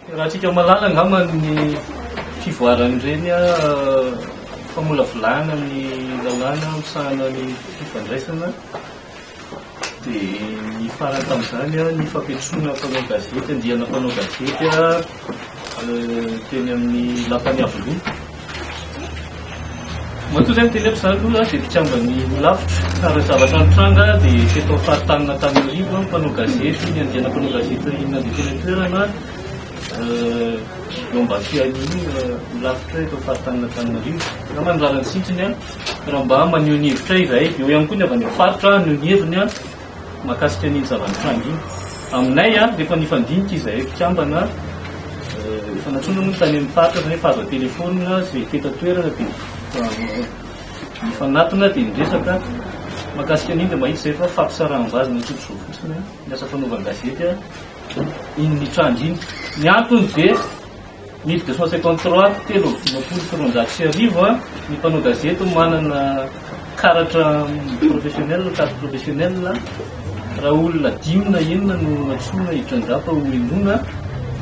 Raha antsika mahalala angamba ny fivoaran'ireny famolavolana ny lalàna misahana ny fifandraisana dia ny farany tamin'izany ny fampiantsoana mpanao gazety, andiana mpanao gazety teny amin'ny lapan'ny Iavoloha. Matoa izay ny teny ato zany aloha dia mpikamban'ny Holafitra ary ny zavatra nitranga dia teto amin'ny faritanina tany Iarivo aho mpanao gazety niandiana mpanao gazety nandeha teny an-toerana eo Ambafiahiany Holafitra eto amin'ny faritanina Antananarivo. Angamba ny lalan-tsintony raha mba maneho ny hevitray izahay. Eo ihany koa ny avy any amin'ny faritra haneho ny heviny. Mahakasika an'iny zava-nitranga iny aminay a, rehefa nifandinika izahay mpikambana, efa natsoina moa ny tany amin'ny faritra fa efa azo an-telefaonina izay tety an-toerana dia nifanatona dia niresaka mahakasika an'iny dia mahita izay fa fampisaraham-bazana tsotr'izao fotsiny ny asa fanaovan-gazety iny nitranga iny. Ny antony dia. Mille deux cent cinquante trois, telo amby dimampolo sy roanjato sy arivo, Ny mpanao gazety manana karatra professionnel, carte professionnelle, raha olona dimy na enina no nantsoina hitrangapa ho henoina,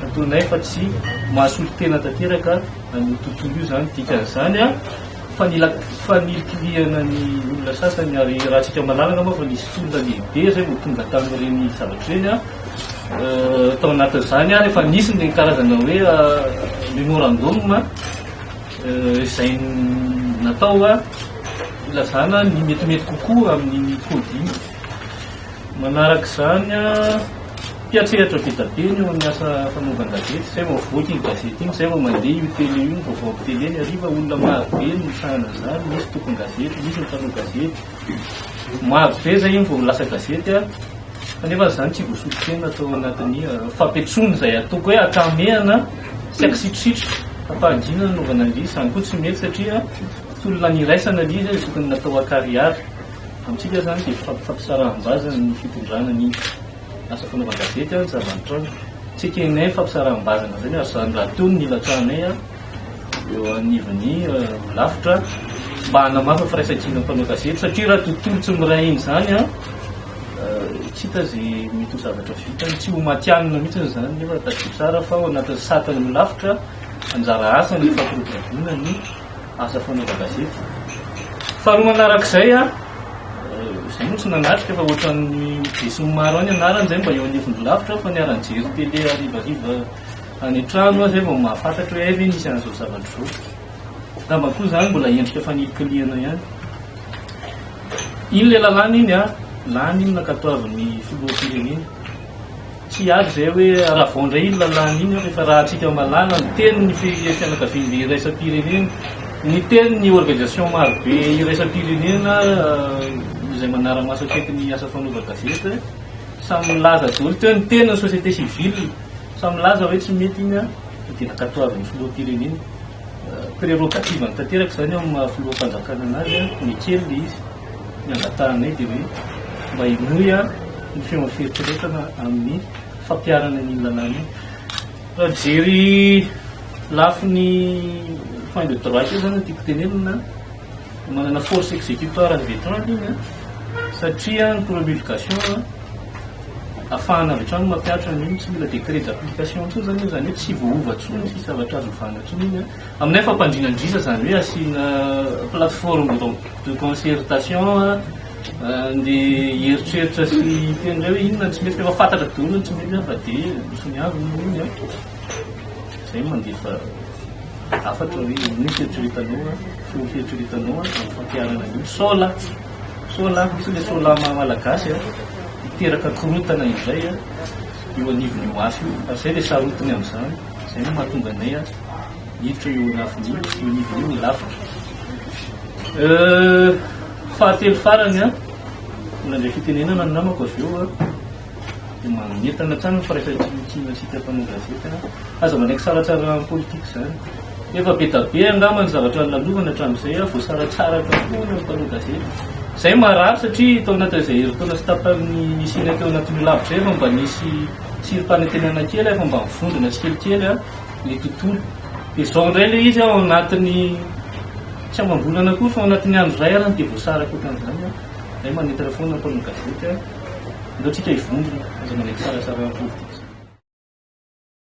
ataonay fa tsy mahasolo tena tanteraka an'io tontolo io izany. Dikan'izany, fanilikilihana ny olona sasany, ary raha antsika malalaka moa fa nisy tolona lehibe izay vao tonga tamin'ireny zavatra ireny. tao anatin'izany ary efa nisy ny karazana hoe memorandum izay natao hilazana ny metimety kokoa amin'ny coding. Manaraka izany mpiatrehatra be dia be ny eo amin'ny asa fanaovan-gazety izay vao avoaka iny gazety iny, izay vao mandeha io tele io, vaovao am-piteny eny hariva, olona marobe no misahana an'izany, misy tompon-gazety, misy mpanao gazety. Maro be izay iny vao lasa gazety fa nefa izany tsy voasotro tena tao anatin'ny fampitsoana izay ataoko hoe atramehana sy akisitrositro ampahajina nanaovana an'ilay izy. Izany koa tsy mety satria tolona niraisana ilay izy izay tokony natao an-karihary. Amintsika izany dia fampisaraham-bazana ny fitondrana ny asa fanaovan-gazety ny zava-nitranga. Tsy ekenay ny fampisaraham-bazana izany ary izany rahateo no nilatsahanay. eo anivon'ny Olafitra mba hanamafy ny firaisankinan'ny mpanao gazety satria raha tontolo tsy miray hina izany an, tsy hita izay mety ho zavatra vitany, tsy ho matihanina mihitsy izany nefa tadidio tsara fa ao anatin'ny satan'ny Olafitra anjara asa ny fampiroboroboana ny asa fanaova gazety. Faharoa manarak'izay an, izay moa tsy nanatrika fa ohatran'ny besinimaro ihany ny anarany izay mba eo anivon'ny Olafitra fa niara-nijery télé harivariva Any an-trano aho izay vao mahafantatra hoe hay ve misy an'izao zavatra izao. Angamba koa izany mbola endrika fanirinkirihana ihany. Iny ilay lalàna iny an, lany iny nankatoavin'ny filoham-pirenena. Tsy hiady izay hoe haravao indray iny lalàna iny an, rehefa rahantsika mahalala ny tenin'ny fianakaviam-be iraisam-pirenena, ny tenin'ny organisation maro be iraisam-pirenena izay manara-maso akaiky ny asa fanaovan-gazety. Samy nilaza daholo teo ny tenin'ny société civile. Samy milaza hoe tsy mety iny an, fa dia ankatoavin'ny filoham-pirenena. Prerogative-ny tanteraka izany eo amin'ny maha filoham-panjakana anazy an, ny kely dia izy. Ny angatahanay dia hoe mba henoy an ny feon'ny fieritreretana amin'ny fampiharana an'iny lalàna iny. Raha mijery lafiny fin de droit kely izany no tiako tenenina an. manana force exécutoire avy etrany iny an, satria ny promulgation an, afahana avy etrany mampiatra ny tsy mila décret d'application intsony zany iny, zany hoe tsy voaova intsony ny sisa zavatra azo ovana intsony iny an. Aminay fampandriana an-driza zany hoe asiana plateforme de concertation an, andeha hieritreritra sy hiteny indray hoe inona no tsy mety, efa fantatra daholo ny tsy mety fa dia misoniavina iny an. Zay mandefa hafatra hoe ino fieritreretanao an, ino fieritreretanao an, amin'ny fampiharana an'io sola, sola, misy ilay sola maha malagasy an, miteraka korontana indray an, eo anivon'io afo io, ary zay ilay sarotiny amin'izany, zay no mahatonga anay an, hiditra eo anafony io, eo anivony io ny lafika. Euh, fahatelo farany an, mbola nandray fitenenana ny namako avy eo an, dia manentana hatrany ny firaisan-kina antsika mpanao gazety an! Aza manaiky saratsara amin'ny politika izany. Efa be dia be angamba ny zavatra nolalovana hatramin'izay an! Voasaratsaraka avokoa ireo mpanao gazety. Izay marary satria tao anatin'izay herintaona sy tapany nisianay teo anatin'io lavitra izay efa mba nisy tsirim-panantenana kely, efa mba nivondrona tsikelikely ny tontolo. Dia izao indray ilay izy ao anatin'ny tsy amam-bolana akory fa ao anatin'ny andro iray arany dia voasaraka ohatran'izany an! Izay manentana foana ny mpanao gazety an! Aleo tsika hivondrona, aza manaiky sary atsara eo am-podipotika.